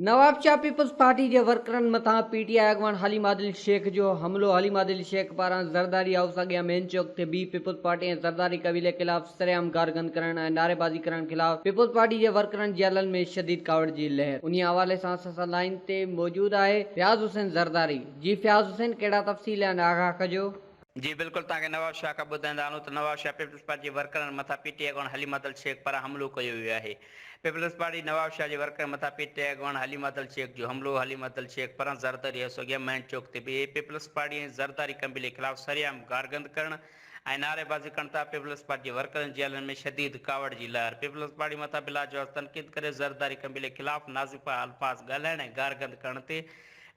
Nawabshah Peoples Party جي ورڪرن مٿان پي ٽي آء اڳواڻ حليم عادل شيخ جو حملو حليم عادل شيخ پاران زرداري هائوس اڳيان مين چوڪ تي بيهي پيپلز پارٽي ۽ زرداري قبيلي خلاف سرعام گار گند ڪرڻ ۽ نعريبازي ڪرڻ خلاف پيپلز پارٽي جي ورڪرن جيلن ۾ شديد ڪاوڙ جي لهر انهي حوالي سان اسان سان لائين تي موجود آهي فياض حسين زرداري جي فياض حسين ڪهڙا تفصيل آهن آگاهه ڪجو. جي بلڪل توهان کي نواب شاهه کان ٻڌائيندا هلون ته نواب شاهه پيپلز پارٽي جي ورڪرن مٿان پي ٽي آء اڳواڻ حليمه عدل شيخ پاران حملو ڪيو ويو آهي پيپلز پارٽي نواب شاهه جي ورڪرن مٿان پي ٽي آء اڳواڻ حليمه عدل شيخ جو حملو حليمه عدل شيخ پاران زرداري هائوس اڳيان مين چوڪ تي بيهي پيپلز پارٽي ۽ زرداري قبيلي خلاف سرعام گارگند ڪرڻ ۽ نعري بازي ڪن ٿا پيپلز پارٽي جي ورڪرن جي جيلن ۾ شديد ڪاوڙ جي لهر پيپلز پارٽي مٿان بلاجواز تنقيد ڪري زرداري قبيلي خلاف نازفا الفاظ ڳالهائڻ ۽ گارگند ڪرڻ تي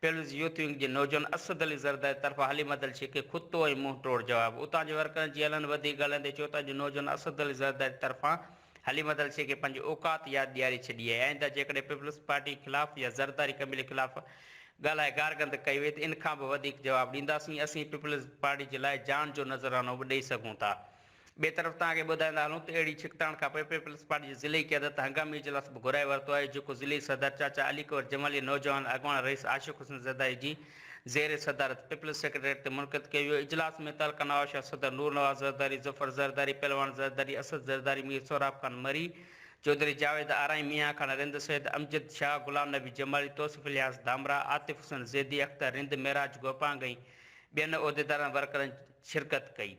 پيپلز يوٿ ونگ جي نوجوان اسد علي زرداري طرفان حليم عدل شيخ کي کتو ۽ منهن ٽوڙ جواب اتان جي ورڪرن جيلن وڌيڪ ڳالهائيندي چيو ته اڄ نوجوان اسد علي زرداري طرفان هلي مدل شيء کي پنهنجي اوقات ياد ڏياري ڇڏي آهي، آئنده جيڪڏهن پيپلز پارٽي خلاف يا زرداري قبيلي خلاف ڳالهائي گارگند ڪئي وئي ته ان کان به وڌيڪ جواب ڏينداسين، اسين پيپلز پارٽي جي لاء جان جو نذرانو به ڏئي سگهون ٿا. ٻئي طرف توهان کي ٻڌائيندا هلون ته اهڙي ڇڪتاڻ کانپوء پيپلز پارٽي جي ضلعي قيادت هنگامي اجلاس به گهرائي ورتو آهي جيڪو ضلعي صدر چاچا علي قمر جمالي نوجوان اڳواڻ رئيس عاشق حسين زرداري جي زير صدارت پيپلز سيڪريٽريٽ تي منعقد ڪيو ويو اجلاس ۾ تعلقه نوابشاهه صدر نور نواز زرداري، ظفر زرداري، پهلوان زرداري، اسد زرداري، مير سهراب خان مري، چوڌري جاويد آرائين، ميان خان رند، سيد امجد شاهه، غلام نبي جمالي، توصيف الياس ڌامراهه، عاطف حسن زيدي، اختر رند، معراج گوپانگ ۽ ٻين عهديدارن ورڪرن شرڪت ڪئي.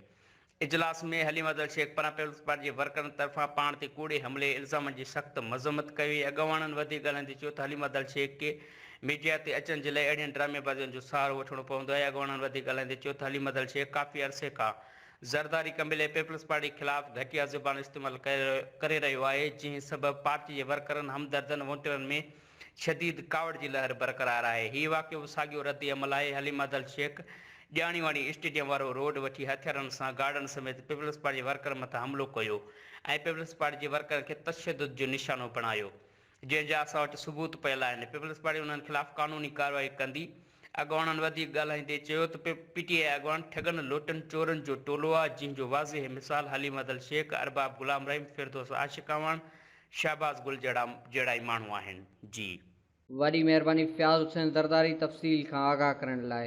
اجلاس ۾ حليم افضل شيخ پران پيپلز پارٽي جي ورڪرن طرفان پاڻ تي ڪوڙي حملي الزامن جي سخت مذمت ڪئي وئي اڳواڻن وڌيڪ ڳالهائيندي چيو ته حليم افضل شيخ کي ميڊيا تي اچڻ جي لاء اهڙين ڊرامي بازين جو سهارو وٺڻو پوندو آهي اڳواڻن وڌيڪ ڳالهائيندي چيو ته حليم افضل شيخ ڪافي عرصي کان زرداري قبيلي پيپلز پارٽي خلاف گهٽيا زبان استعمال ڪري رهيو آهي جنهن سبب پارٽي جي ورڪرن همدردن وونٽرن ۾ شديد ڪاوڙ جي لهر برقرار آهي. هي واقعو به ساڳيو رد عمل آهي، حليم ادل شيخ ڄاڻي واڻي اسٽيڊيم وارو روڊ وٺي هٿيارن سان گارڊن سميت پيپلز پارٽي جي ورڪرن مٿان حملو ڪيو ۽ پيپلز پارٽي جي ورڪرن کي تشدد جو نشانو بڻايو جنهن جا اسان وٽ ثبوت پيل آهن، پيپلز پارٽي انهن خلاف قانوني ڪارروائي ڪندي. اڳواڻن وڌيڪ ڳالهائيندي چيو ته پ پ ٽي آء اڳواڻ ٺڳن لوٽن چورن جو ٽولو آ جنهن جو واضح مثال حليم ادل شيخ، ارباب غلام رحيم، فردوس عاشق اعواڻ، شهباز گل جهڙا جهڙا ئي ماڻهو آهن. جي. وڏي مهرباني فياض حسين زرداري تفصيل کان آگاهه ڪرڻ لاء.